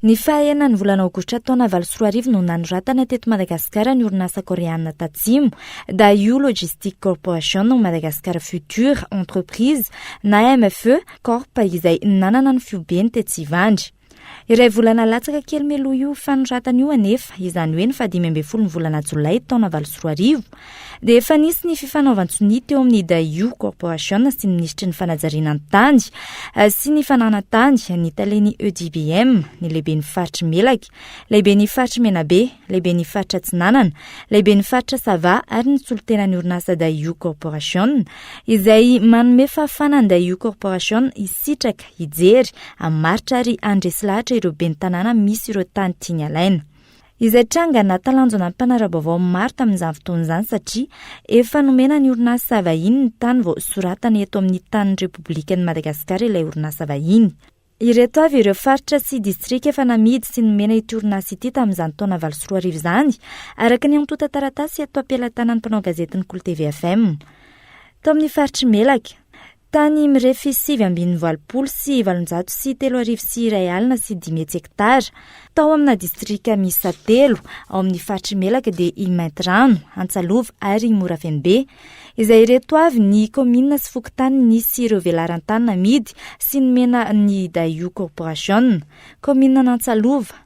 Ny faha enin'ny volana aogositra taona valo sy roa arivo no nanoratana teto Madagasikara ny orinasa Koreana Tatsimo, Daewoo Logistic Corporation of Madagascar Future Entreprise na MFE Corp izay nanana ny fiobeny tetsy Ivandry. Iray volana latsaka kely mialoha io fanoratana io anefa, izany hoe ny fahadimy ambin'ny folo ny volana jolay taona valo sy roa arivo, dia efa nisy ny fifanaovan-tsonia teo amin'ny Daewoo Corporation sy ny minisitry ny fanajariana ny tany sy ny fananan-tany, ny talen'ny EDBM, ny lehiben'ny faritry Melaky, lehiben'ny faritry Menabe, lehiben'ny faritra Atsinanana, lehiben'ny faritra Sava ary ny solontenan'ny orinasa Daewoo Corporation izay manome fahafana ny Daewoo Corporation hisitraka, hijery, hamaritra ary handresy lahatra ireo ben'ny tanàna misy ireo tany tiany alaina. Izay tranga nahatalanjona ny mpanara-baovao maro tamin'izany fotoana izany satria efa nomena ny orinasa vahiny ny tany vao soratana eto amin'ny tanin'ny Repoblikan'i Madagasikara ilay orinasa vahiny. Ireto avy ireo faritra sy distrika efa namidy sy nomena ity orinasa ity tamin'izany taona valo sy roa arivo izany, araka ny antontan-taratasy eto am-pelatanan'ny mpanao gazetin'ny Kolo TV FM. Tao amin'ny faritr'i Melaky. Tany mirefy sivy ambin'ny valopolo sy valonjato sy telo arivo sy iray alina sy dimy hetsy hektara. Tao amina distrika miisa telo ao amin'ny faritry Melaka dia i Maintirano, Antsalova ary Morafenobe. Izay ireto avy ny kaominina sy fokontany nisy ireo velaran-tany namidy sy nomena ny Daewoo Corporation. Kaomininan'Antsalova.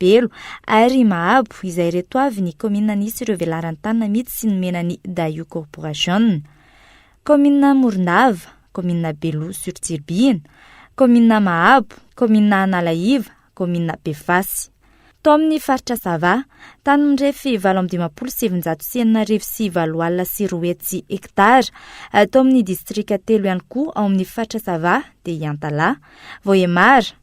Belo, ary Mahabo, izay ireto avy ny kaominina nisy ireo velaran-tany namidy sy nomena ny Dayu Corporation. Kaominina Morondava, kaominina Belo sur Tsiribihina, kaominina Mahabo, kaominina Analaiva, kaominina Befasy. Tao amin'ny faritra Sava, tany mirefy valo amby dimampolo sy evinjato sy enina arivo sy valo alina sy roa hetsy hektara. Tao amin'ny distrika telo ihany koa ao amin'ny faritra Sava dia i Antalaha, Vohemar,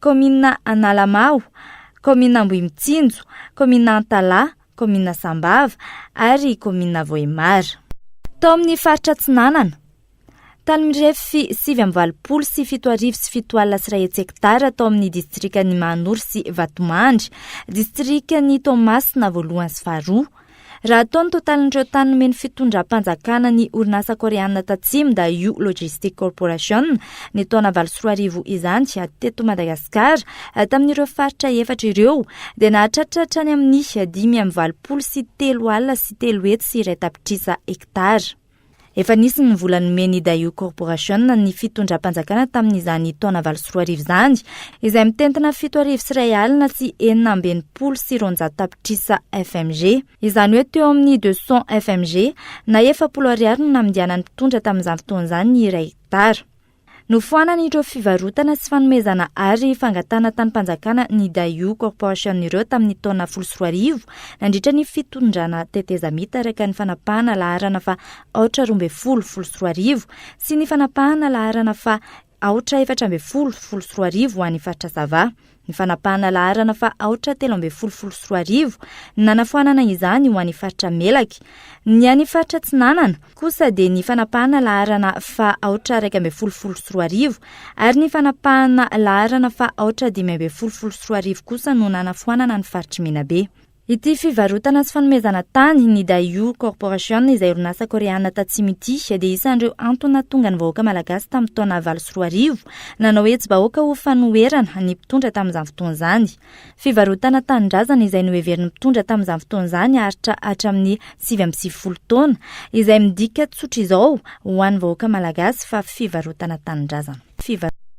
Kaominina Analamaho, Kaominina Ambohimitsinjo, Kaominina Antalaha, Kaominina Sambava ary Kaominina Vohemar. Tao amin'ny faritra Atsinanana, tany mirefy sivy amby valopolo sy fito arivo sy fito alina sy iray hetsy hektara tao amin'ny distrikan'i Mahanoro sy Vatomandry, distrikan'i Toamasina voalohany sy faharoa, Raha atao ny totalin'ireo tany nomen'ny fitondram-panjakana ny orinasa Koreana Tatsimo Daewoo Logistic Corporation, ny taona valo sy roa arivo izany, teto Madagasikara, tamin'ireo faritra efatra ireo, dia nahatratra hatrany amin'ny dimy amby valopolo sy telo alina sy telo hetsy sy iray tapitrisa hektara. Efa nisy ny vola nomen'ny Daewoo Corporation ny fitondram-panjakana tamin'izany taona valo sy roa arivo izany, izay mitentina fito arivo sy iray alina sy enina amby enimpolo sy roanjato tapitrisa FMG. Izany hoe teo amin'ny deux cents FMG, na efapolo ariary no namindianan'ny mpitondra tamin'izany fotoana izany ny iray hektara. Nofoanany ireo fivarotana sy fanomezana ary fangatahana tanim-panjakana ny Daewoo Corporation ireo tamin'ny taona folo sy roa arivo, nandritra ny fitondrana tetezamita araka ny fanapahana laharana fa aotra roa ambin'ny folo, folo sy roa arivo, sy ny fanapahana laharana fa aotra efatra ambin'ny folo, folo sy roa arivo ho an'ny faritra Sava. ny fanapahana laharana fa aotra telo ambin'ny folo folo sy roa arivo ny nanafoanana izany ho any faritra melaky ny any faritra tsinanana kosa dia ny fanapahana laharana fa aotra raika ambin'ny folo folo sy roa arivo ary ny fanapahana laharana fa aotra dimy ambin'ny folo folo sy roa arivo kosa no nanafoanana ny faritry menabe Ity fivarotana sy fanomezana tany, ny Daewoo Corporation izay orinasa Koreana Tatsimo ity dia isan'ireo antony nahatonga ny vahoaka Malagasy tamin'ny taona valo sy roa arivo nanao hetsi-bahoaka ho fanoherana ny mpitondra tamin'izany fotoana izany. Fivarotana tanindrazana izay noheverin'ny mpitondra tamin'izany fotoana izany aritra hatramin'ny sivy amby sivifolo taona, izay midika tsotr'izao ho an'ny vahoaka Malagasy fa fivarotana tanindrazana.